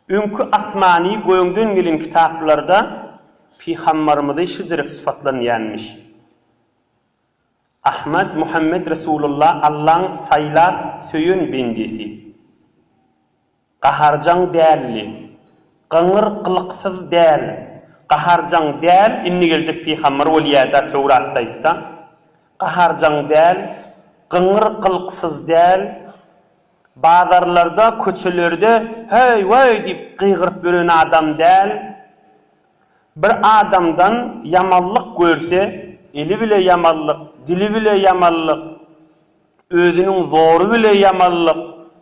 Öňki asmany göňden gelen kitaplarda Pygambarymyzy şijirik sypatlanýanmyş. Ahmad Muhammet Resulalla Allaň saýlap söýen bendesi. Gaharjaň däldi. Gyňyr gylyksyz däl. Gaharjaň däl indi geljek pygambar bolýada Töwratda aýtsa. Gaharjaň däl, gyňyr gylyksyz däl. Bazarlarda, köçelerde Heý, weý! diýip gygyryp ýören adam däl. Bir adamdan ýamanlyk görse, eli bile ýamanlyk, dili bile ýamanlyk, özüniň zory bile ýamanlyk,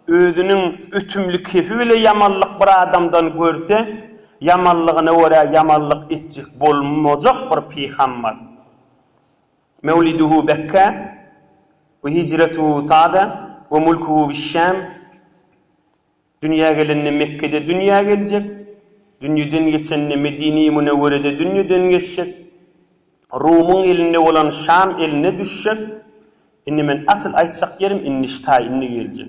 özüniň ötümli kefi bile ýamanlyk bir adamdan görse, ýamanlygyna görä ýamanlyk etjek bolmajak bir peýham bar. Mewliduhu Bekkä we hijretuhu Taba we mulkuhu biş-Şam, Dünýä gelende Mekgede dünýä geljek, dünýeden geçende Medine-i Münewwerede dünýeden geçjek, Rumuň elinde bolan Şam eline düşjek, indi men asyl aýtjak ýerim indi ştaý indi geljek.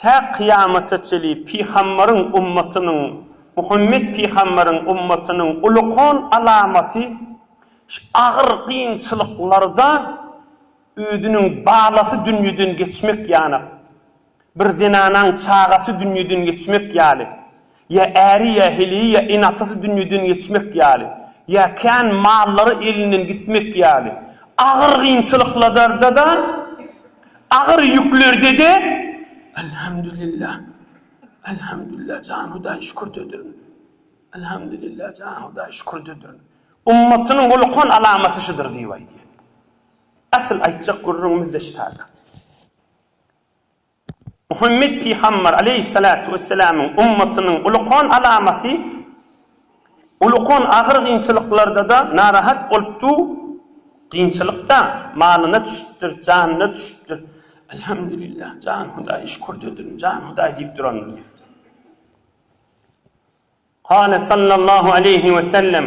Tä kyýamata çenli pygambaryň ummatynyň, Muhammet pygambaryň ummatynyň ulukan alamaty şu agyr kynçylyklarda özüniň balasy dünýeden geçmek ýanak, bir zenanaň çagasy dünýeden geçmek ýaly, Ýa äri, ýa heleýi, ýa ene-atasy dünýeden geçmek ýaly, ýa kän mallary elinden gitmek ýaly agyr kynçylyklarda-da, agyr ýüklerde-de Elhamdülilla, Elhamdülilla, jan Hudaý şükürdedirn, Elhamdülilla, jan Hudaý şükürdedirn. Ummatynyň holukan alamaty şudur diýip aýdýar. Asyl aýtjak gürrüňimiz-de şaýat. Muhammet pygamber aleýhissalatu wessalamyň ummatynyň ulukan alamaty ulukan agyr gynçylyklarda-da narahat bolupdyr, gynçylykda malyna düşüpdir, janyna düşüpdir, Elhamdülillah, jan Hudaý, şükürde durun, jan Hudaý diýip durandyr diýipdir. Kâle sallallahu aleýhi wesellem.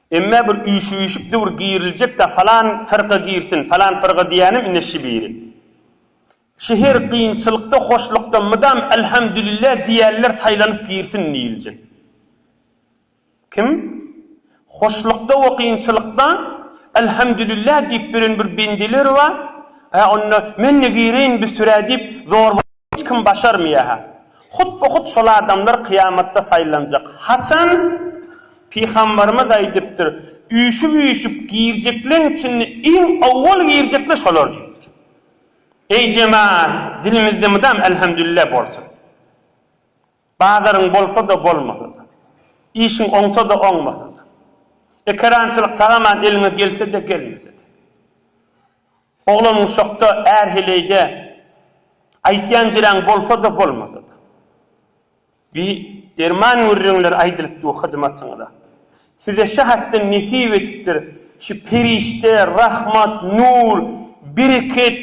Emmä bir üýşüýşük döwür giriljek-dä, falan firga girsin, falan firga diýýänem ine şi biri. Şi her kynçylykda, hoşlukda mydam Elhamdülillah diýýänler saýlanyp girsin diýiljek. Kim? Hoşlukda we kynçylykda Elhamdülillah diýip bilen bir bendeler bar, hä onda men-de gireýin bir sürä diýip, zor bolup. Hiç kim başarmaýa-ha. Hutby-hut şol adamlar kyýamatda saýlanjak. Haçan? Pygambarymyz aýdypdyr, Üýşüp-üýşüp girjekleň içinde iň owwal girjekler şolar diýipdir. Eý, jemaat, dilimizde mydam Elhemdülillah bolsun. Bazaryň bolsa-da, bolmasa-da. Işiň oňsa-da, oňmasa-da. Ekerançylyk sag-aman eliňe gelse-de, gelmese-de. Oglanyň şokda, är heleýde, aýtýan jiräň bolsa-da, bolmasa-da. Bi derman gürrüňler aýdylyp dur hyzmatyňyza. Size şa hatdan nesip etipdir, şu perişde, rahmat, nur, bereket,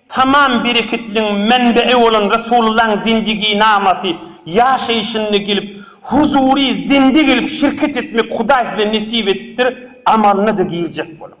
tamam bereketligiň menbe'i bolan Resulullaň zindigynamasy ýaşaýşynda gelip, huzury zinde gelip şirket etmek Hudaý size nesip edipdir, amalyna-da girjek boluň.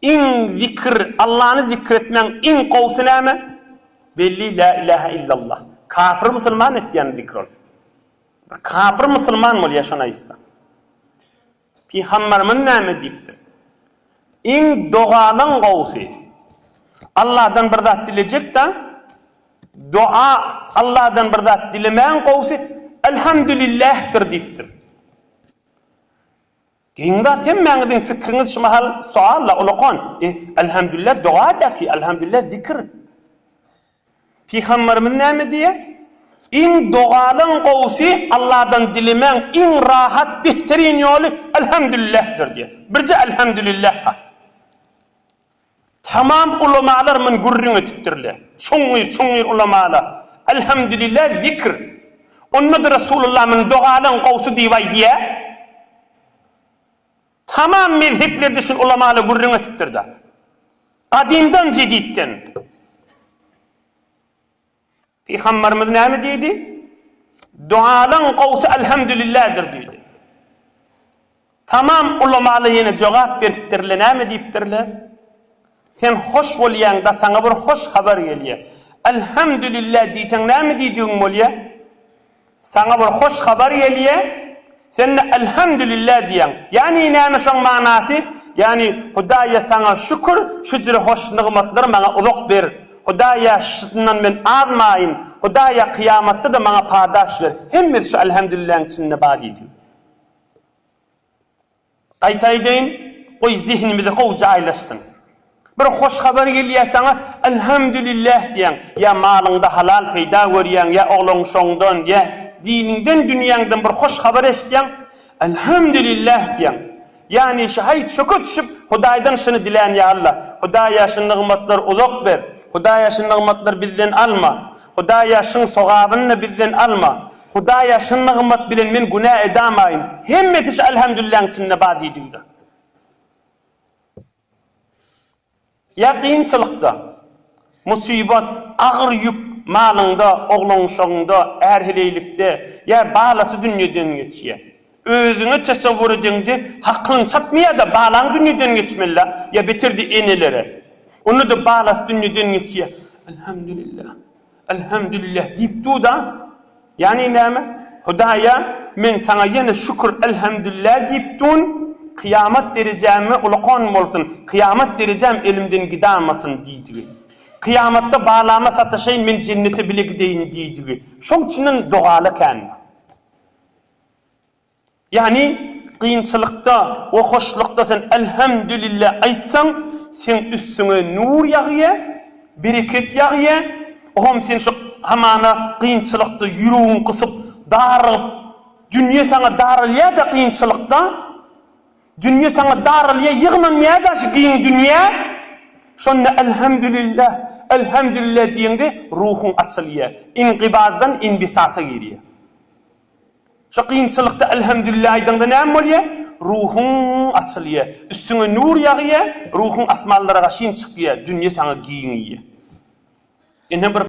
Iň zikr, Allany zikr etmegiň iň gowusy näme? Belli, Lä ilähä illallah. Kafir musulman etýän zikr ol. Bir kafir musulman bolýar şony aýtsa. Pygamberimiz näme diýipdir? Iň dogalaň gowusy. Alladan bir zat dilejek-de, doa, Alladan bir zat dilemäň gowusy Elhamdülillähdir diýipdir. Giň zat hemmäňiziň fikriňiz şu mahal sualla ulakan e Elhamdülillah doga daki Elhamdülillah zikr. Pygamberimiz näme diýýär? Iň dogalyň gowusy Allahdan dilemäň iň rahat behteryn ýoly Elhamdülillahdir diýýär. Birje Elhamdülillah ha. Tamam ulamalar mün gürrüň etipdirler. Çuňňur, çuňňur ulamalar. Elhamdülillah zikr. Onda-da Resulullah mün dogalaň gowsy diýip aýdýar. Tamam mezheplerde şun ulamalar gürrüň etipdir-da. Gadymdan, jeditden. Pygamberimiz näme diýdi? Dualaň gowsy Alhamdulillahdir diýdi. Tamam ulamalar ýene jogap beripdirler, näme diýipdirler? Sen hoş bolýaňda saňa bir hoş habar gelýär. Alhamdulillah diýseň näme diýdigiň bolýar? Saňa bir hoş habar gelýär, sen-de Elhamdülillah diýýäň. Ýani näme şoň manasy? Ýani, Hudaýa saňa şükür, şüjre hoş nygmatlary maňa uzak ber. Hudaýa şundan men azmaýyn. Hudaýa kyýamatda-da maňa padaş ber. Hemmesi şu Elhamdülillahyň içinde bar diýdi. Gaýtaýdaýyn, goý zehinimize gowy jaýlaşsyn. Bir hoş habar gelýär saňa, Elhamdülillah diýýäň, ýa malyňda halal peýda görýäň, ýa ogluň şoňdan, ýa diniňden, dünýäňden bir hoş habar eşitýäň, Elhamdülillah diýýäň. Ýagny şu haý çöke düşüp, Hudaýdan şuny dilän, Ýa Allah, Hudaýa şu nygmatlar uzak ber, Hudaýa şu nygmatlar bizden alma. Hudaý ýaşyň sogabyny-da bizden alma. Hudaý ýaşyn nygmat bilen men günä edamaýyn. Hemmesi şu Elhemdülilläň içinde bar diýdigi-de. Ýa kynçylykda, musybat, agyr ýük, malyňda, oglan-uşagyňda, är-heleýlikde, ýa balasy dünýeden geçýär. Özüňe tesowwur edeňde hakyň çatmy ýa-da balaň dünýeden geçmelä ýa beterdi enelere. Onda-da balasy dünýeden geçýä. Elhamdülillah. Elhamdülillah diýip dur-da. Ýagny näme? Hudaýa men saňa ýene şükür elhamdülillah diýip durn, kyýamat derejäme ulakan bolsun, kyýamat derejäm elimden gidamasyn diýdigi. Kyýamatda balama sataşaýyn men jennete bile gideýin diýdigi. Şoň üçinem dogaly ekänmi? Ýagny, kynçylykda we hoşlukda sen Elhemdülille aýtsaň, seň üstüňe nur ýagýa, bereket ýagýa, olam sen şu hamana kynçylykda ýüregiň gysyp, darygyp, dünýe saňa daralýa-da kynçylykda, dünýe saňa daralýa ýygnanýa-da şu giň dünýä, şonda Elhemdülille, Elhemdülille diýeňde ruhuň açylýa, ingybazddan inbisata girýa. Şu kynçylykda Elhemdülillah aýdaňda näme bolýar? Ruhuň açylýar, üstüňe nur ýagýar, ruhuň asmanlara gaşyn çykýar, dünýe saňa giňeýär. Ine bir.